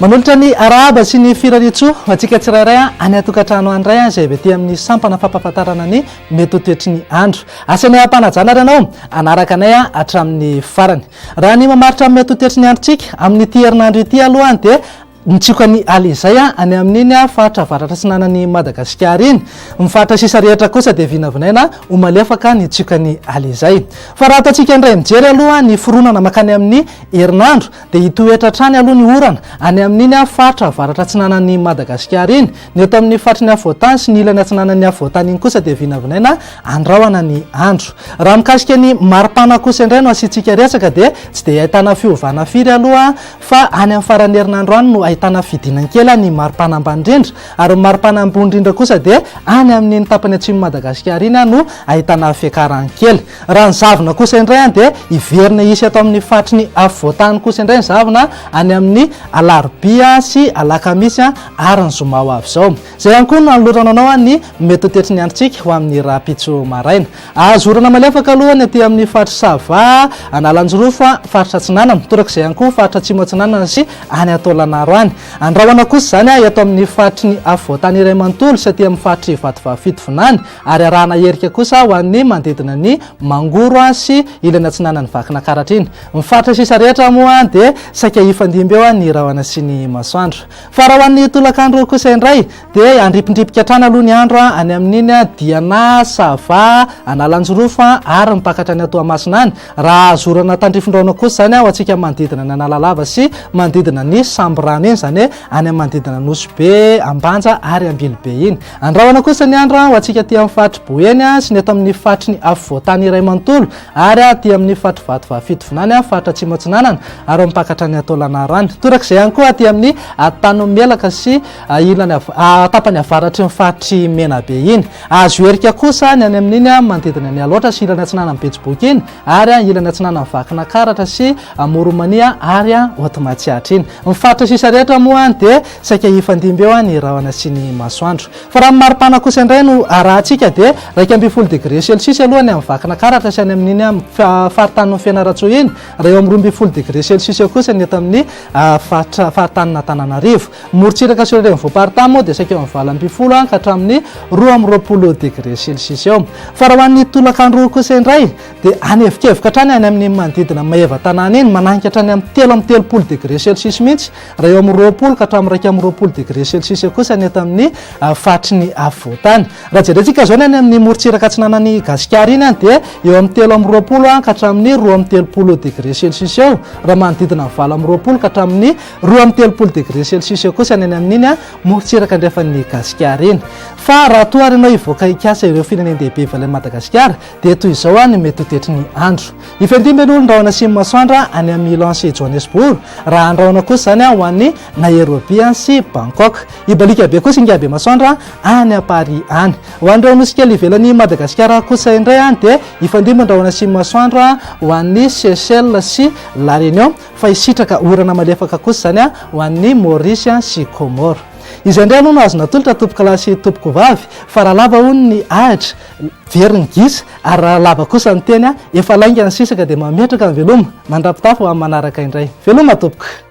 Manolotra ny arahaba sy ny firariantsoa ho antsika tsirairay any an-tokantrano any indray izay avy aty amin'ny sampana fampahafantarana ny mety ho toetry ny andro. Asa ny hampanajana ary ianao hanaraka anay hatramin'ny farany. Raha ny mamaritra amin'ny atotetry ny androntsika, amin'ity herinandro ity aloha dia nitsioka ny ala izay any amin'iny faritra avaratra atsinanan'i Madagasikara iny. Ny faritra sisa rehetra kosa dia vinavinaina ho malefaka ny tsiokan'ny ala izay. Fa raha ataontsika indray mijery aloha ny fironana mankany amin'ny herinandro dia hitoetra hatrany aloha ny orana any amin'iny faritra avaratra atsinanan'i Madagasikara iny, Ny eto amin'ny faritry ny afovoantany sy ny ilany atsinanan'ny afovoantany iny kosa dia vinavinaina handrahona ny andro. Raha mikasika ny mari-pana kosa indray no asiantsika resaka dia tsy dia ahitana fiovana firy aloha fa any amin'ny faran'ny herinandro any no ahitana fidinany kely ny mari-pana ambany indrindra ary ny mari-pana ambony indrindra kosa dia any amin'iny tapany atsimon'i Madagasikara iny no ahitana fiakarany kely. Raha ny zavona kosa indray dia hiverina hisy eto amin'ny faritry ny afovoantany kosa indray ny zavona any amin'ny alarobia sy alakamisy. ary ny zoma ho avy izao. Izay ihany koa no hanolorana anao ny mety ho toetry ny androntsika ho amin'ny rahampitso maraina. Azo orana malefaka aloha ny aty amin'ny faritr'i Sava, Analanjirofo, faritra Atsinanana, torak'izay ihany koa faritra Atsimo Atsinanana sy any Antolanaro any. Andrahona kosa izany eto amin'ny faritry ny afovoantany iray manontolo sy aty amin'ny faritr'i Vatovavy Fitovinany ary arahana erika kosa ho an'ny manodidina ny Mangoro sy ilany atsinanan'i Vakinakaratra iny. Ny faritra sisa rehetra moa dia saika hifandimby eo ny rahona sy ny masoandro. Fa raha ho an'ny tolakandro kosa indray dia handripindripika hatrany aloha ny andro any amin'iny Diana, Sava, Analanjirofo ary mipakatra any Toamasina any, raha zorana tandrifindraona kosa izany ho antsika manodidina ny Analalava sy manodidina ny Sambirano iny, izany hoe any amin'ny manodidina Nosy-Be, Ambanja ary Ambilobe iny. Andrahona kosa ny andro ho antsika aty amin'ny faritry Boeny sy ny eto amin'ny faritry ny afovoan-tany iray manontolo Ary aty amin'ny faritry Vatovavy-Fitovinany an, faritra Atsimo-Atsinanana, ary ao Ampakatra ny Antolanaro any. Torak'izay ihany koa aty amin'ny Antanimelaka sy ilany tapany avaratry ny faritry Menabe iny. Azo herika kosa ny any amin'iny an, manodidina ny Alaotra sy ilany atsinanan'ny Betsiboky iny, ary an, ilany atsinanan'ny Vakinakaratra sy Amoronmania ary an, Haute Matsiatra iny. Ny faritra sisa rehetra moa an, dia saika hifandimby eo an, ny rahona sy ny masoandro. Fa raha ny maripana kosa indray no arahantsika dia iraika ambin'ny folo degré celsius aloha ny amin'ny Vakinankaratra sy any amin'iny faritanin'i Fianarantsoa iny, raha eo amin'ny roa ambin'ny folo degré celsius kosa ny eto amin'ny faritra faritanin'Antananarivo. Ny morontsiraka sy ireo renivohi-paritany moa dia saika eo amin'ny valo ambin'ny folo any ka hatramin'ny roa amby roapolo degré celsius eo. Fa raha ho an'ny tolakandro kosa indray dia anevikevoka hatrany any amin'ny manodidina Maevatanàna iny, mananika hatrany amin'ny telo amby telopolo degré celsius mihitsy, Raha eo amin'ny roapolo ka hatramin'ny iraika amby roapolo degré celsius eo kosa ny eto amin'ny faritry ny afovoantany. Raha jerentsika izao ny any amin'ny morontsiraka atsinanan'i Gasikara iny dia eo amin'ny telo amby roapolo ka hatramin'ny roa amby telopolo degré celsius eo, raha manodidina ny valo amby roapolo ka hatramin'ny roa amby telopolo degré celsius eo kosa ny any amin'iny morontsiraka andrefan'i Gasikara iny. Fa raha toa ary ianao hivoaka hikasa ireo firenendehibe ivelan'i Madagasikara dia toy izao ny mety ho toetry ny andro. Hifandimby aloha ny rahona simy masoandra any amin'ny Milan sy Johannesburg, raha andrahona kosa izany ho an'ny Nairobi sy Bangkok. Hibaliaka be kosa ingahy Bemasoandra any à Paris any. Ho an'ireo nosy kely ivelan'i Madagasikara kosa indray dia hifandimby ny rahona simy masoandra ho an'ny Seychelles sy La Réunion fa hisitraka orana malefaka kosa izany ho an'ny Maurice sy Comores. Izay indray aloha no azo natolotra tompokalahy sy tompokovavy fa raha lava hono ny ahitra Very ny gisa ary raha lava kosa ny teny, efa lainga ny sisa ka dia mametraka ny veloma. Mandra-pitafy ho amin'ny manaraka indray. Veloma tompoko!